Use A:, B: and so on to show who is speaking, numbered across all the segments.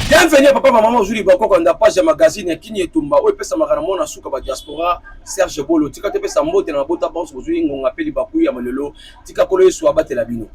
A: Bienvenue à papa maman Julie Bakoko na page ya magazine ya Kini Etumba oyo epesamaka na mwana suka ba diaspora Serge Bolo tika te pesa mbote na mabota banso bozwi ngonga mpe libaku ya malelo tika kolo Yesu abatela bino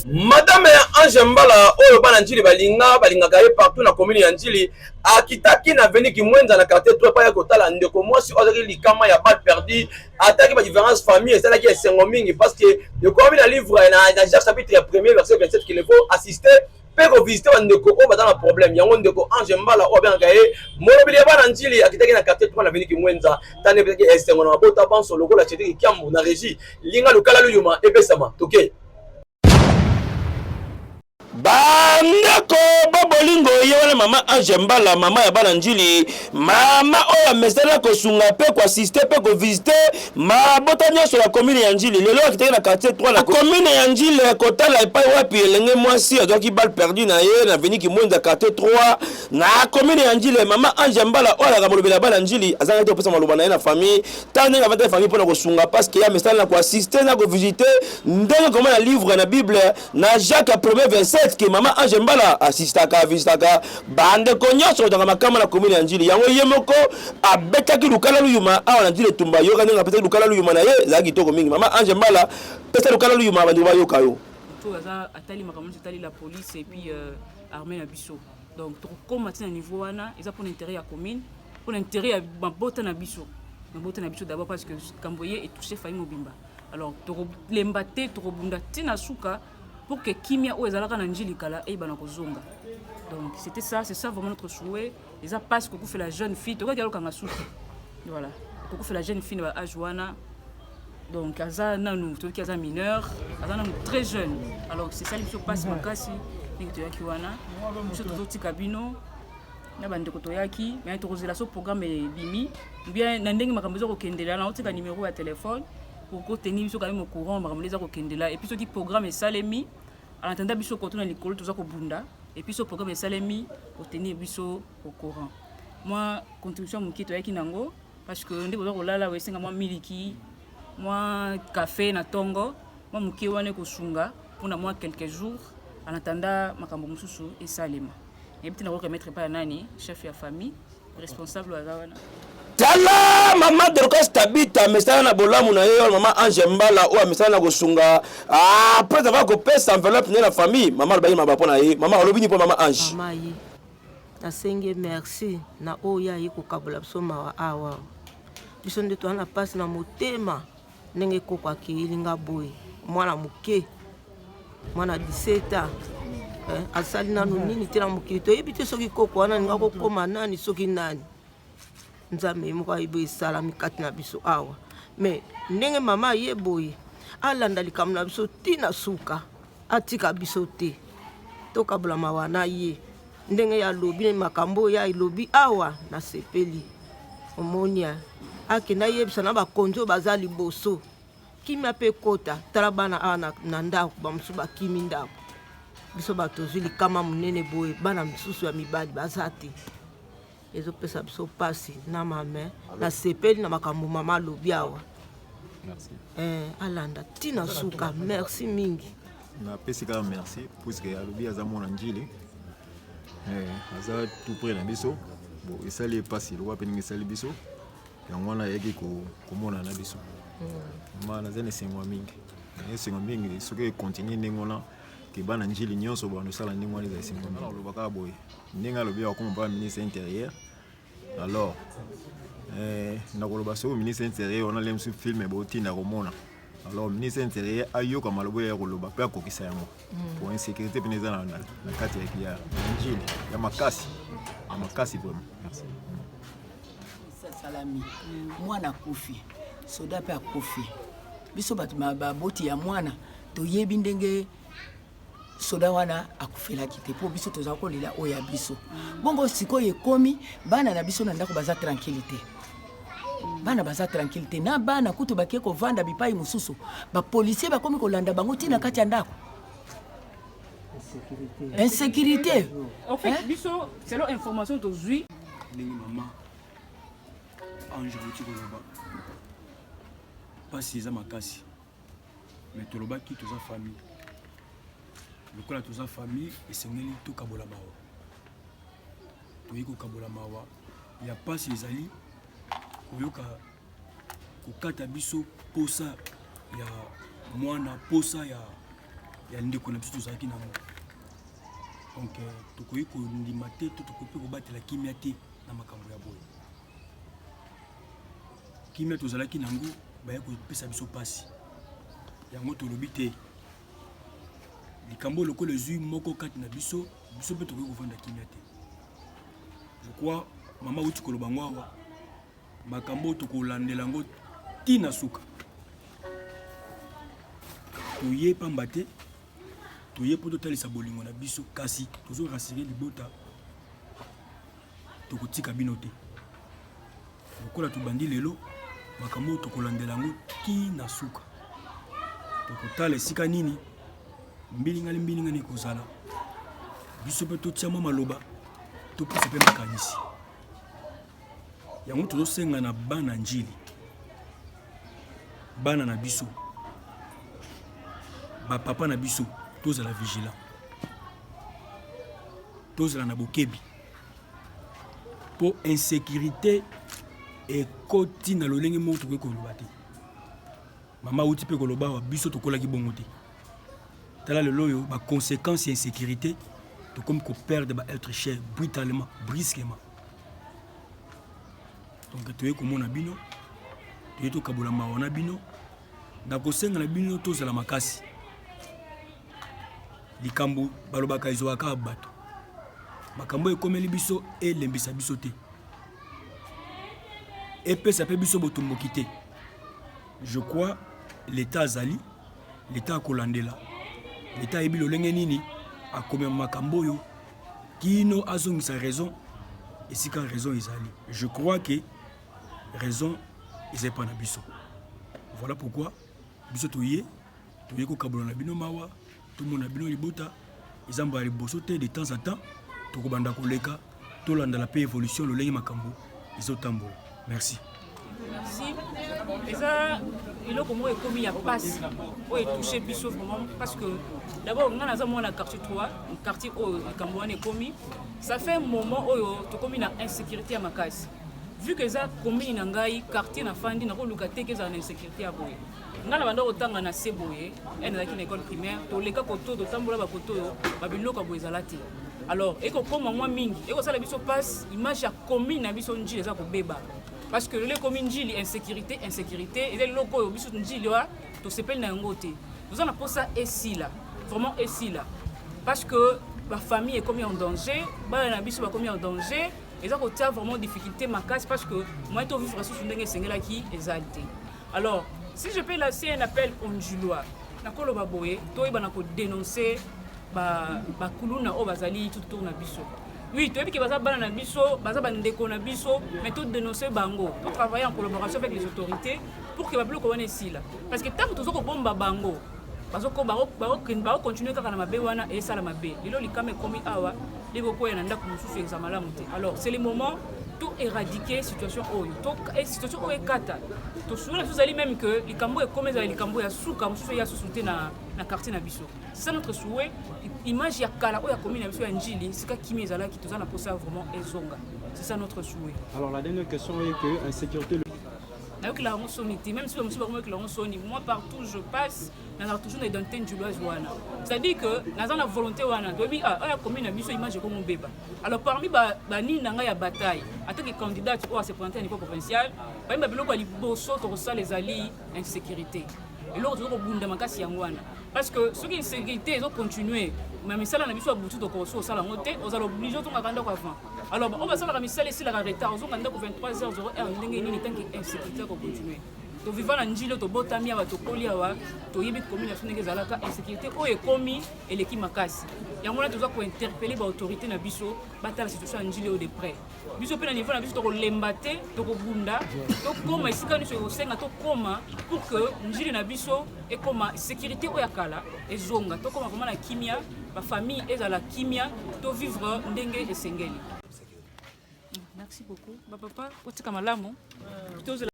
A: madame ya ange mbala oyo bana njili balinga balingaka ye partout na commune ya njili akitaki na veni kimwenza na quartier to epai ya kotala ndeko mwasi oyo azalaki likama ya balle perdu ataki badifference famille esalaki esengo mingi parce que ekomi na livre na jacques chapitre premier verset 27 qu'il faut assister mpe kovisite bandeko oyo baza na problème yango ndeko ange mbala oyo abengaka ye molobeli ya bana njili akitaki na quartier twa na veni kimwenza tani epesaki esengo na mabota banso lokola cedriki kiambu na régie linga lokala luyuma epesama toke okay.
B: bandeko bo bolingo ye wana mama ange mbala mama ya bana njili mama oyo amesana kosunga mpe koasiste mpe kovisite mabota nyonso ya komine ya njili lelo akitaki na quartier 3 na komine ya njili kotala epai wapi elenge mwasi azwaki bal perdu na ye na veni kimwenza quartier 3 na komine ya njili mama ange mbala oyo alaka molobeli ya bana njili azangaki te kopesa maloba na ye na famille ntango ndenge avandaki famille mpo na kosunga paske ye amesana na koasiste na kovisite ndenge komona livre na bible na jacques ya premier 27 ke mama ange mbala asistaka avistaka bandeko nyonso kozanga makama na komine ya njili yango ye moko abetaki lukala luyuma awa na njili etumba yoka ndenge apesaki lukala luyuma na ye ezalaki kitoko mingi mama ange mbala pesa lukala luyuma bandeko bayoka yo atali
C: makambo nyonso etali la police epuis euh, armée na biso donc tokokoma ti na niveau wana eza mpona intérêt ya commune mpona intérêt ya mabota na biso mabota na biso d'abord parce que kambo ye etouche faille mobimba alors tokolemba te tokobunda ti na suka pour que kimia oyo ezalaka na njilikala eyebana kozonga donc c'était ça c'est ça vraiment notre souhait eza mpasi kokufela jeune fille tokaki alokanga suki voilà kokufela jeune fille na ba age wana donc aza nanu toyoki aza mineur aza nanu très jeune alors sesali biso mpasi makasi ndenge toyaki wana biso tozotika bino na bandeko toyaki me tokozela so programme ebimi bien na ndenge makambo eza kokendela na otika nimero ya telefone okoteni biso kami mocourant makambo nde eza kokendela epuis soki programme esalemi anatanda biso koto na likolo toza kobunda epuis so programme esalemi oteni biso au courant mwa contribution moke toyaki nango parce que nde boza kolala oyo esenga mwa miliki mwa cafe na tongo mwa moke wana ekosunga mpona mwa quelques jours en attendant makambo mosusu esalema nayebi te nakoki remettre epai ya nani chef ya famille responsable aza wana tala
B: mama dorcas tabita amesana na bolamu na ye yo mama ange mbala oyo amesana na kosunga apres ah, ava kopesa enveloppe nde na famille mama alobaki maba mpo na ye mama alobi ni mpo mama ange
D: Nasengi ye merci na oyo ye aye kokabola biso mawa awa. Biso nde toza na mpasi na motema ndenge koko akeyeli nga boye mwana moke mwana 17 ans eh, asali nanu nini te na mokili toyebi te soki koko wana alinga kokoma nani soki nani nzambe ye moko ayebi esalami kati na biso awa me ndenge mama aye boye alanda likambo na biso ti na suka Atika biso te tokabola mawa na ye ndenge ya lobi na makambo ya elobi awa na sepeli omonia akenda yebisa na bakonzi oyo baza liboso kimia mpe ekota tala bana awa na, na ndako bamosusu bakimi ndako biso bato tozwi likama monene boye bana mosusu ya mibali baza te ezopesa biso mpasi na mame nasepeli na makambo mama alobi awa
E: eh, alanda
D: ti na suka merci mingi napesi kaka
E: merci puiske alobi aza mwana njili eh, aza tout près na biso bon esali mpasi lokola mpe ndenge esali biso yango wana ayaki komona na biso hmm. ma naza na esengo ya mingi esengo mingi soki ekontinue ndenge wana keba na njili nyonso bando osala ndenge wana ezali sembo mingi aloba kaka boye ndenge alobi akoma mpona ministre intérieur alors eh, nakoloba soki ministre intérieur wana lemsu filme botinda komona alors ministre intérieur ayoka maloba ya koloba mpe akokisa yango mm. po insécurité mpena eza na kati ya njili ya makasi ya makasi vraiment salami
F: mwana akufi soda mpe akufi biso bato baboti ya mwana toyebi ndenge soda wana akufelaki te mpo biso tozala kolela oyo ya biso bongo sikoyo ekomi bana na biso na ndako baza tranquille te bana baza tranquille te na bana kutu bakei kovanda bipai mosusu bapolisier bakomi kolanda bango ntina kati ya ndako insécurité en fait
C: biso selon information tozwi ndenge mama
G: ange auti koloba mpasi eza makasi mais tolobaki toza famille lokola toza famille esengeli tokabola mawa toyei kokabola mawa ya mpasi ezali koyoka kokata biso mposa ya mwana mposa ya, ya ndeko na biso tozalaki na yango donc euh, tokoki kondima te to tokoki mpe kobatela kimia te na makambo ya boye kimia tozalaki nango baye kopesa biso mpasi yango tolobi te likambo lokola ezwi moko kati na biso biso mpe tokoki kofanda kimia te lokwa mama uti koloba yango awa makambo oyo tokolandela yango ti na suka toye pamba te toye mpo totalisa bolingo na biso kasi tozorasire libota tokotika bino te lokola tobandi lelo makambo oyo tokolandela yango ti na suka tokotala esika nini mbilingani mbilingani ekozala biso mpe totia mwa maloba topesa mpe makanisi yango tozosenga na bana njili bana na biso bapapa na biso tozala vigilant tozala na bokebi mpo insecurite ekoti na lolenge moko tokoki koloba te mama auti mpe koloba awa biso tokolaki bongo te tala lelo oyo baconséquence ya insécurité tokomi koperdre baêtre cher brutalement brisquement donc toyei komona bino toyei tokabola mawa na bino nakosenga na bino tozala makasi likambo balobaka ezwaka kaka bato makambo oyo ekomeli biso elembisa biso te epesa mpe biso botomboki te je crois leta azali leta akolandela leta ayebi lolenge nini akomema makambo oyo kino azongisa raison esika raison ezali je crois que raison eza epa na biso voilà pourquoi biso toye Toye kokabola na bino mawa, tomona bino libota eza mbala liboso te, de temps en temps tokobanda koleka, tolandala mpe evolution lolenge makambo ezotambola. Merci. Merci.
C: Eza eloko moko ekomi ya pasi oyo etouche biso vraiment parce que d'abord ngai naza mwana quartier 3 quartier oyo likambo wana ekomi ça fait moment oyo tokomi na insécurité ya makasi vu que eza commune na ngai quartier nafandi nakoluka te ke ezala na insécurité ya boye nga na banda kotanga na se boye ene ezalaki na école primaire toleka koto totambola bakoto oyo babiloko ya boye ezala te alors ekokoma mwa mingi ekosala biso mpasi image ya commune na biso njili eza kobeba parce que lelo ekomi njili insécurité insécurité eza eloko oyo biso njili wa tosepeli na yango te toza na mposa esila vraiment esila parce que bafamille ekomi en danger bana na biso bakomi en danger eza kotia vraiment difficulté makasi parce que moyen tovivre susu ndenge esengelaki ezali te Alors, si je peux lancer un appel aux Ndjilois, nakoloba boye, toyebana ko dénoncer ba ba kuluna oyo bazali tout autour na biso. Oui, toyebi ke baza bana na biso, baza bandeko na biso, mais to dénoncer bango, to travailler en collaboration avec les autorités pour que babiloko wana esila. Parce que tant que tozo kobomba bango, bazoko bako continuer kaka na mabe wana esala mabe lelo likama ekomi awa leko koya na ndako mosusu eza malamu te alors c'est le moment to éradiquer situation oyo to eh, situation oyo ekata tosungela biso ezali même que likambo ekomi ezala likambo ya suka mosusu eya susu te na, na quartier na biso c'est ça notre souhait image ya kala oyo akomi na biso ya njili sika kimi ezalaki toza na posa vraiment ezonga c'est ça notre souhait alors la dernière question
H: est que insécurité nayokela
C: yango soni te même si bamosusu bakomi yokela yango soni moi partout je passe nazala toujours na identité njuloise wana c'est-à-dire que naza na volonté wana toyebi ah, oyo akomi na biso image ekomi obeba alors parmi banini na ngai ya bataille ata ke candidate oyo aseprésente ya niveau provincial parmi babiloko ya liboso tokosala ezali insécurité eloko toza kobunda makasi yango wana parce que soki insécurité ezocontinue ma misala na biso ya butu tokokosi kosala yango te ozala oblige otongaka ndako avant Alors, on va savoir que misali esilaka retard ozonga ndako 23 heures 0 heure ndenge nini tanki insécurité akocontinue toviva na njilo tobotami awa tokoli awa toyebi komi na biso ndenge ezalaka insécurité oyo ekomi eleki makasi yango wana toza kointerpele baautorité na biso batala situation ya njili oyo de près biso mpe na niveau na biso tokolemba te tokobunda tokóma esika nyonso ekosenga tokóma pour que njili na biso ekóma sécurité oyo ya kala ezonga tokóma vraimen na kimia Ba famille ezala kimia to vivre ndenge esengeli. Merci beaucoup. Ba papa otika malamu. Tozela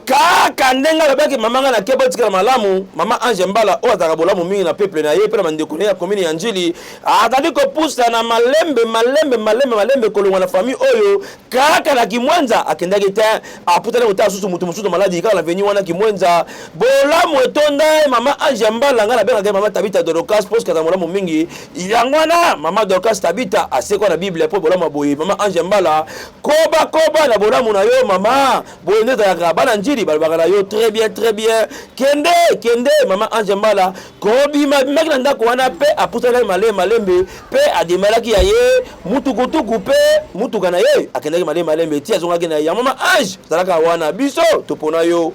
B: kaka ndenge alobaki mama ngai nake botikala malamu mama ange mbala oyo azalaka bolamu mingi na peuple na ye mpe na bandeko na ye ya komini ya njili azali kopusa na malembe malembe malembe malembe kolongwa na famille oyo kaka na kimwenza akendaki te aputani kotala susu moto mosusu maladi kaka na veni wana kimwenza bolamu etonda ye mama ange ya mbala ngai nabengaka ye mama tabita dorocas mpo sikata molamu mingi yango wana mama dorocas tabita asekwa na biblia mpo bolamu ya boye mama ange ya mbala kobakoba na bolamu na yo mama boye nde ezalaka bana njili balobaka na yo très bien très bien kende kende mama ange ya mbala kobima abimaki na ndako wana mpe apusanaki malembe malembe mpe ademalaki ya ye mutukutuku mpe mutuka na ye akendaki malembe malembe ti azongaki na ye ya mama ange zalaka wana biso topona yo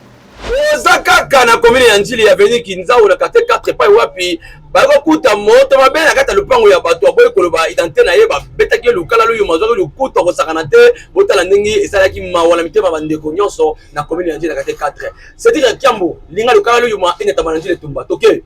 B: oza kaka
A: na komine ya njili ya veni kinzau na kate 4 epai wapi bakokuta moto mabe na kati ya lopango ya bato aboyi koloba identite na ye babetaki ye lukala loyo mazwaki lokuta kosakana te botala ndenge esalaki mawa na mitema bandeko nyonso na komine ya njili na kate 4 Cedric ya Kiambo linga lokala loyo ma ene tamana njile tumba toke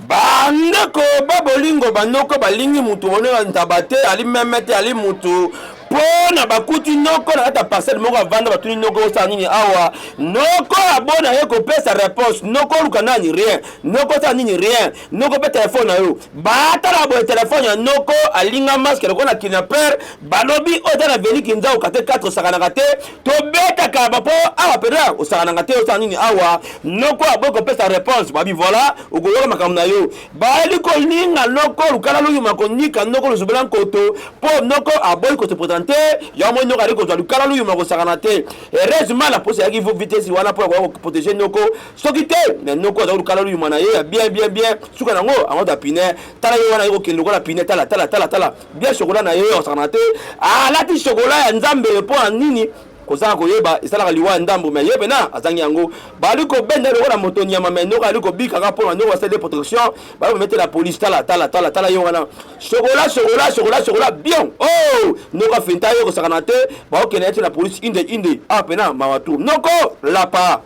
B: bandeko babolingo banoko balingi mutu monela ntaba te ali meme te ali mutu mpo na bakuti noko na kati ya parcelle moko avanda batuni noko osala nini awa noko abona ye kopesa réponse noko oluka nani rien noko osala nini rien noko mpe telefone na yo batala boye telefone ya noko alinga maske lokola na kidnapper balobi oyo eza na veli kinza okate 4 osakanaka te tobetaka bapo awa peda osanganaka te osala nini awa noko aboyi kopesa réponse babi voilà okoyoka makambo na yo bayeli kolinga noko lukala luyuma konika noko luzubela nkoto mpo noko aboyi kose présente yango moi noko ali kozwa lukala luyuma kosakana te heureusement na posi ayaki vitesse wana mpo akoya koprotege noko soki te me noko azali lukala luyuma na ye ya bien bien bien suka nango ango da pine tala ye wana ye kokende lokola pine tala tala tala tala bien chocolat na ye osakana te alati chocolat ya nzambe mpo na nini kozanga koyeba esalaka liwa ya ndambo me ye pena azangi yango bali kobenda lokola moto nyama me noko ali kobika kaka mpona noko asali protection bali kometela polise tala tala tala tala ye wana sokola sokola sokola sokola bien o oh! noko afenta ye kosakana te baokende yati na polise inde inde a ah, pena mawa tour noko lapa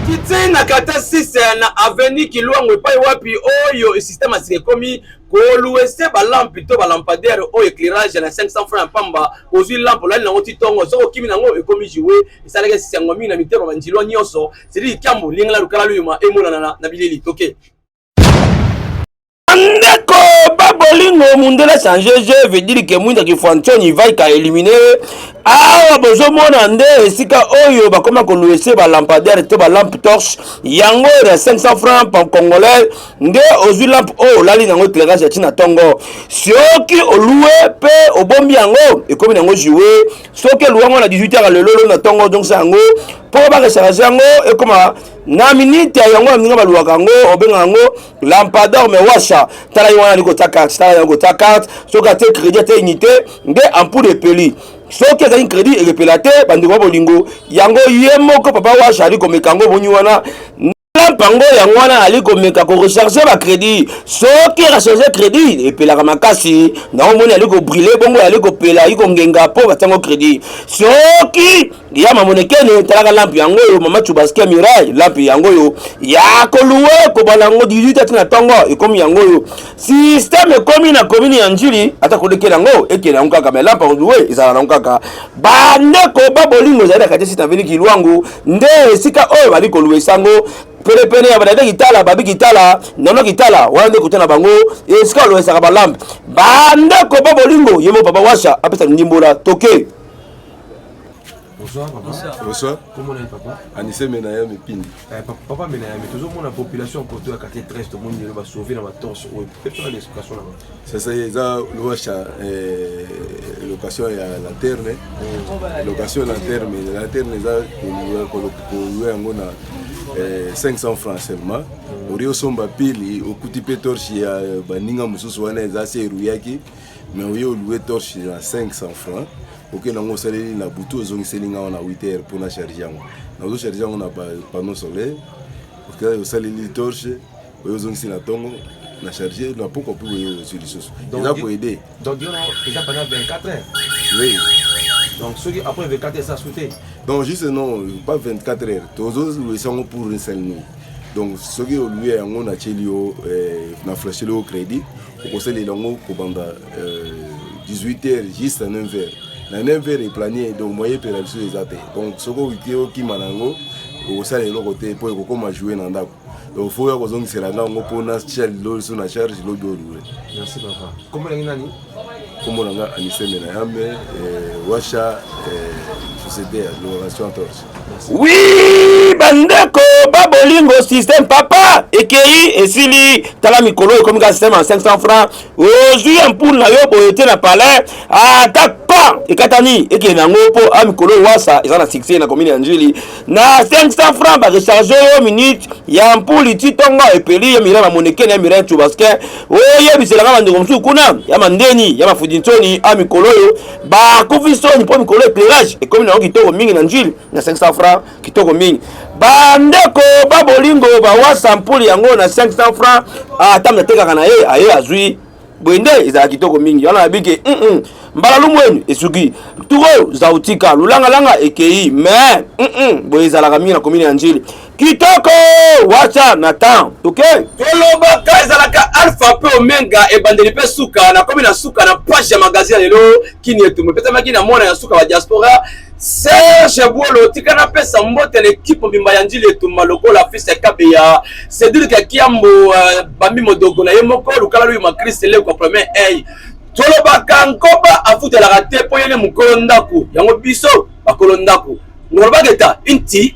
B: kitse na
A: kata 6 na aveni kilwango epai wapi oyo systeme asika ekomi koluese balampe to balampadaire oyo éclairage na 500 francs ya pamba ozwi lampe olali nango ti ntongo soki okimi nango ekomi joue esalaki esengo mingi na mitema banjilwa nyonso sedi likambo lingala lukala luyuma emonana na bileli toke
B: ndeko babolingo mundele change je veut dire que mwinda kifuanchoni vaika elimine awa bozomona nde esika oyo bakoma koluese balampadaire to balampe torche yango na 500 francs congolais nde ozwi lampe oyo olali na yango eclairage ya ntina ntongo soki olue mpe obombi yango ekomi na yango jue soki elua yango na 18 heure lelolo na ntongo ozongisa yango mpo barecharge yango ekoma na minite ya yango ya ndenge baluaka yango obenga yango lampador me washa tala ye wana ali kotya carte tala yango kotya carte soki ate crédit ate unité nde ampoule epeli soki ezali crédit elepela te bandeko ya bolingo yango ye moko papa washa ali komeka yango obonyi wana Trump yango yango wana ali komeka korecharge bacrédit soki recharge crédit epelaka makasi na omoni ali kobrile bongo ali kopela ali kongenga mpo batiango crédit soki ya mamonekene talaka lampe yango oyo mama chubaskia mirai lampe yango oyo ya koluwe kobala yango 18 ati na ntongo ekomi yango oyo systeme ekomi na komini ya njili ata kolekela yango ekela yango kaka me lampa odue ezala nango kaka bandeko ba bolingo ezali na kati esita vili kilwangu nde esika oyo bali kolua esango penepene ya badade kitala babi kitala nono kitala wana nde kota na bango esika oloesaka balampe bandeko ba bolingo ye mo papa washa apesa ndimbola toke Bonsoir
I: papa. Bonsoir. Bonsoir. Comment
J: est papa?
I: Anissé Menayami
J: Pindi. Eh, papa, papa Menayami,
I: toujours mon population poto ya quartier 13 to moni le ba sauver na ba torse ou peut faire l'explication là. Ça ça eza
J: loacha eh location ya lanterne. Mm. Location lanterne, lanterne eza ko ko yango na 500 eh, francs seulement mm. ori osomba pili okuti mpe torche ya baninga mosusu wana eza se eruyaki mais oye olue torche na 500 francs oke okay, nango osaleli na butu ozongiseli nga wana 8 heures mpo na charge yango nazo charge yango na panneau solaire okay, osaleli torche oyo ozongisi na ntongo na charge na pokwa mpe oyo ozwi lisusu eza koede donc yo eza
I: pendant 24 heures oui donc soki après 24 heures eza su te
J: donc juste non pas 24 heures tozoluisa yango pour une seule nuit donc soki olue yango natieli yo eh, na flasheli yo crédit okosalela yango kobanda 18 euh, h juste 9 h na 9 h eplanie donc moye epela biso eza te donc soki owiti okima na yango okosala eloko te mpo ekokoma joue na ndako donc fo ya kozongisela nga yango mpo na chel loso na charge lobi olue
I: kombo na nga
J: anisemela yambe euh, washa euh, société ya loration torche Oui,
B: bandeko babolingo système papa ekeyi esili tala mikolo ekomi ka système ya 500 francs ozwi ya mpulu na yo boye te na palais ata pa ekatani ekende yango mpo a mikolo wasa eza na succès na commune ya njili na 500 francs barecharge yo minute ya mpuli ti ntongo epeli ya mirai mamonekene ya mirai chubaskin oyebiselaka bandeko mosusu kuna ya mandeni ya mafudintsoni a mikolo oyo bakufi soni mpo mikolo eclairage ekomi nango kitoko mingi na njili na 500 franc kitoko mingi bandeko babolingo bawasa mpuli yango na 500 franc ata ah, atekaka na ye aye azwi boye nde ezala kitoko mingi wana nabiki mm -mm. mbala lumwenu esuki turo zautika lulangalanga ekei me mm -mm. boye ezalaka mingi na komini ya njili kitoko wacha na temps toke okay. kolobaka ezalaka
A: alpha mpe omenga ebandeli mpe suka nakomi na suka na page ya magazine ya lelo kini etumo epesamaki na mwana ya suka wa diaspora serge bwolo tika napesa mbote na ekipe mobimba ya njili etumba lokola fils ya kabeya cedrik ya kiambo uh, eh, bambi modogo na ye moko lukala luyi makrist lekwa premier ey tolobaka nkoba afutelaka te mpo ye nde mokolo ndako yango biso bakolo ndako Ngolobaka eta inti